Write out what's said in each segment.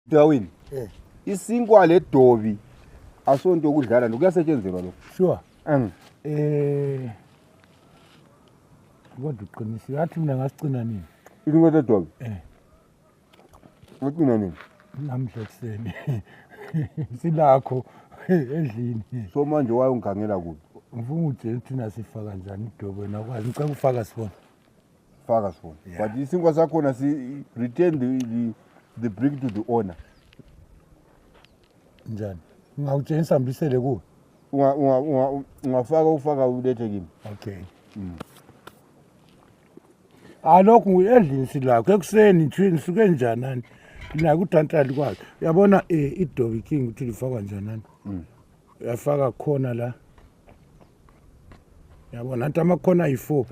Dawini. Eh. Isinkwa le dobi asonto ukudlala lo kuyasetshenzelwa lo. Sure. Ang. Eh. Kodwa uqinisa yathi mina ngasicina nini? Isinkwa le dobi. Eh. Ucina nini? Namhla ekseni. Silakho endlini. So manje waye ungigangela kubi. Ngifuna ukuthi thina sifaka njani idobi wena kwazi ngicela ufaka sibona. faka sona yeah. but isinkwa sakhona si return the, the, the brick to the owner njani ngingakutshengisa mbisele kuwe ungafaka ufaka ulethe kimi okay mm. alokhu edlini silakho ekuseni nje suke njanani la kudantali kwakhe uyabona eh, idobi king ukuthi lifakwa njanani mm. uyafaka khona la yabona anti amakhona ayi-four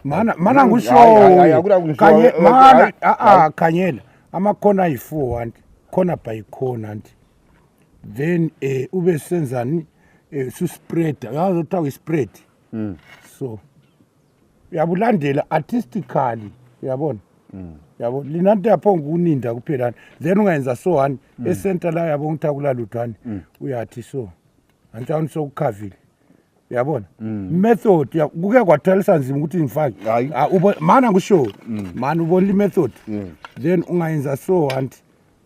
mana mana ngishoyimana a-a khanyela amakhona ayi-four anti khona by khona anti then um ube senzani um suspreada uyazi kuthiwa kwi-spread hmm. so uyabulandela artistically uyabona hmm. yabo lina nto yapho ngikuninda kuphelani then ungayenza so hani esenta la yabo ngithi akulalutho hani uyathi so anhlawumbe sokukhavile uyabona mm. method kuke kwathwalisa nzima ukuthi ngifake ah, mana ngisho mm. mana ubona imethod then ungayenza so anti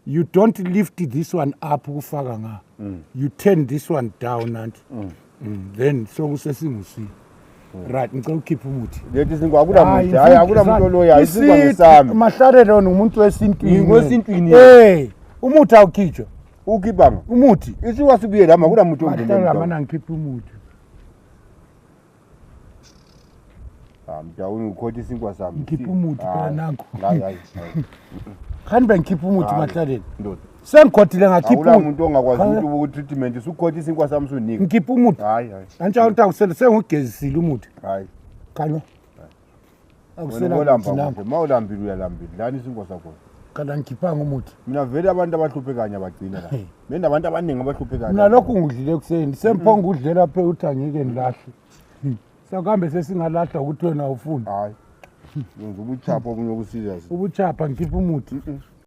you don't lift this one up ukufaka nga mm. you turn this one down anti then sokusesingusini right ngicela ukukhipha umuthi lethi isinkwa akunamuthi hayi akunamuntu oloyayo isinkwa ngesami mahlale lona umuntu wesintwini ngwesintwini eh umuthi awukhitshwa ukhipha umuthi isiwa sibuye la makunamuntu ongenela mana ngikhipha umuthi ah, mdawuni ngikhotha isinkwa sami ngikhipha umuthi phela nangu khani bengikhipha umuthi mahlaleni ndoda sengigodile ngakhipha awula muntu ongakwazi ukuthi ubuku treatment usukhotha isinkwa sami suningi ngikhipha umuthi hayi hayi antsha uthi akusele sengugezisile umuthi hayi khalo akuselamba uma ulambile uyalambile lani isinkwa sakho kala ngikhiphanga umuthi mina vele abantu abahluphe kanye abagcina la mina nabantu abaningi abahluphe kanye nalokho ngidlile ekuseni semphonga mm. udlela phe uthi angike ngilahle hmm. sakuhambe sesingalahla ukuthi wena awufuni hayi yenza ubuchapha obunye obusiza ubuchapha ngikhipha umuthi